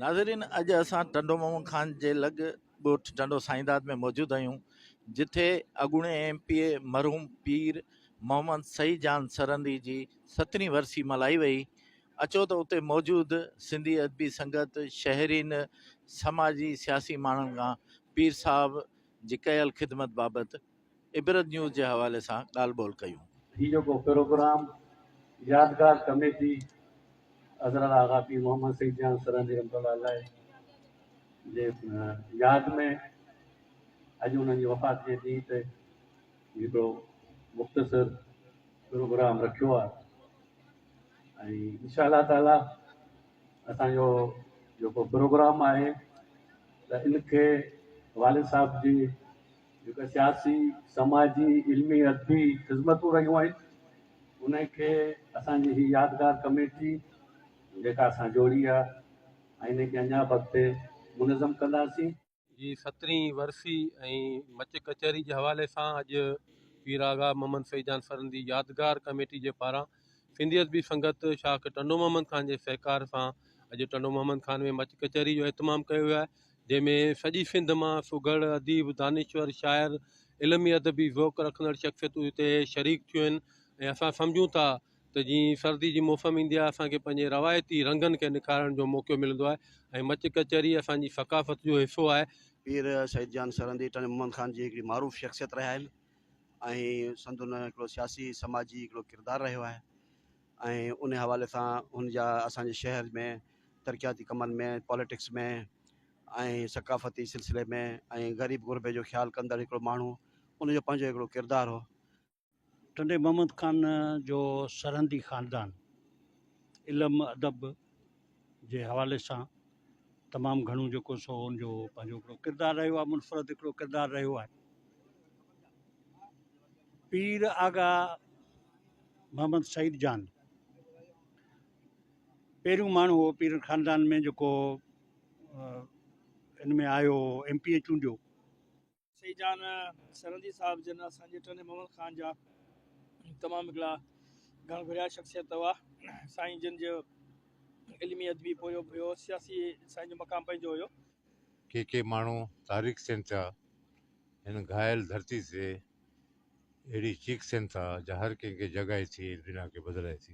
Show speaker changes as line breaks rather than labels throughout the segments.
ناظرين اڄ اسان ٽنڊو محمد خان جي لڳ ڳوٺ ٽنڊو سائينداد ۾ موجود آهيون جتي اڳوڻي ايم پي اي مرحوم پير محمد سعيد جان سرهندي جي سترهين ورسي ملهائي وئي اچو ته اتي موجود سنڌي ادبي سنگت شهرين سماجي سياسي ماڻهن کان پير صاحب جي ڪيل خدمت بابت عبرت نيوز جي حوالي سان ڳالهه ٻولهه ڪيون. هي جيڪو پروگرام
يادگار ڪميٽي حضرت آغا پير محمد سيد جان سرهندي رحمة الله عليه جي ياد ۾ اڄ انهن جي وفات جي ڏينهن تي هڪڙو مختصر پروگرام رکيو آهي ۽ انشاء الله تعالي اسان جو جيڪو پروگرام آهي ته ان کي والد صاحب جي جيڪا سياسي، سماجي، علمي، ادبي خذمتون رهيون آهن انهن کي اسان جي هي يادگار ڪميٽي جيڪا اسان جوڙي آهي ۽ انهن کي اڃا به اڳتي منظم ڪنداسين. جي سترهين
ورسي ۽ مچ ڪچهري جي حوالي سان اڄ پير آغا محمد سعيد جان سرهندي يادگار ڪميٽي جي پاران سنڌي ادبي سنگت شاخ ٽنڊو محمد خان جي سهڪار سان اڄ ٽنڊو محمد خان ۾ مچ ڪچهري جو اهتمام ڪيو ويو آهي جنهن ۾ سڄي سنڌ مان سگهڙ، اديب، دانشور، شاعر، علمي ادبي ذوق رکندڙ شخصيتون هتي شريڪ ٿيون آهن ۽ اسان سمجهون ٿا ته جيئن سردي جي موسم ايندي آهي اسان کي پنهنجي روايتي رنگن کي نکارڻ جو موقعو ملندو آهي ۽ مچ ڪچهري اسان جي ثقافت جو حصو آهي. پير سعيد جان
سرهندي ٽنڊي محمد خان جي هڪڙي معروف شخصيت رهيا آهن ۽ سندن هڪڙو سياسي سماجي هڪڙو ڪردار رهيو آهي ۽ ان حوالي سان هن جا اسان جي شهر ۾ ترقياتي ڪمن ۾ پاليٽڪس ۾ ۽ ثقافتي سلسلي ۾ ۽ غريب غربي جو خيال ڪندڙ هڪڙو ماڻهو ان جو پنهنجو هڪڙو ڪردار هو. ٽنڊي
محمد خان جو سرهندي خاندان علم ادب جي حوالي سان تمام گهڻو جيڪو سو ان جو پنهنجو هڪڙو ڪردار رهيو آهي منفرد هڪڙو ڪردار رهيو آهي پير آغا محمد سعيد جان پهريون ماڻهو هو پيرن خاندان ۾ جيڪو ان ۾ آيو هو ايم پي اي چونڊيو. سائين
جان سرهندي صاحب جن اسان جي ٽنڊي محمد خان جا تمام هڪڙا گهڻ گهريا شخصيت هئا سائين جن جو علمي ادبي پورهيو به هيو سياسي سائين جو مقام پنهنجو هيو. ڪي ڪي
ماڻهو تاريخ سين ٿيا هن گهايل ڌرتي تي اهڙي چيخ سين ٿا جا هر ڪنهن کي جڳائي ٿي هن دنيا کي بدلائي ٿي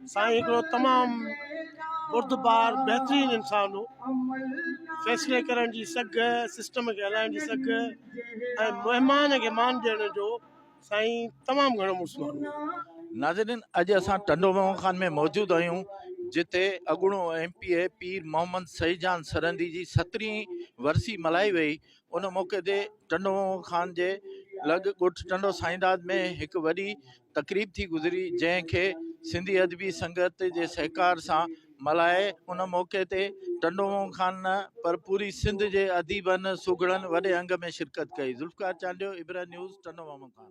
سائين
هڪڙو تمام بردبار بهترين انسان هو فيصلي ڪرڻ جي سگهه سسٽم کي هلائڻ جي سگهه ۽ مهمان کي مان ڏيڻ جو سائين تمام گهڻو مڙس ماڻهو ناظرين
اڄ اسان ٽنڊو محمد خان ۾ موجود آهيون جتي اڳوڻو M P A Pir Muhammad Saeed Jan Sarandi جي سترهين ورسي ملهائي وئي ان موقعي تي ٽنڊو محمد خان جي لڳ ڳوٺ ٽنڊو سائينداد ۾ هڪ وڏي تقريب ٿي گذري جنهن کي سنڌي ادبي سنگت جي سهڪار سان ملهائي ان موقعي تي ٽنڊو مون خان نه پر پوري سنڌ جي اديبن سگهڙن وڏي انگ ۾ شرڪت ڪئي ذوالفقار چانڊيو ابرهه نيوز ٽنڊو مامو خان.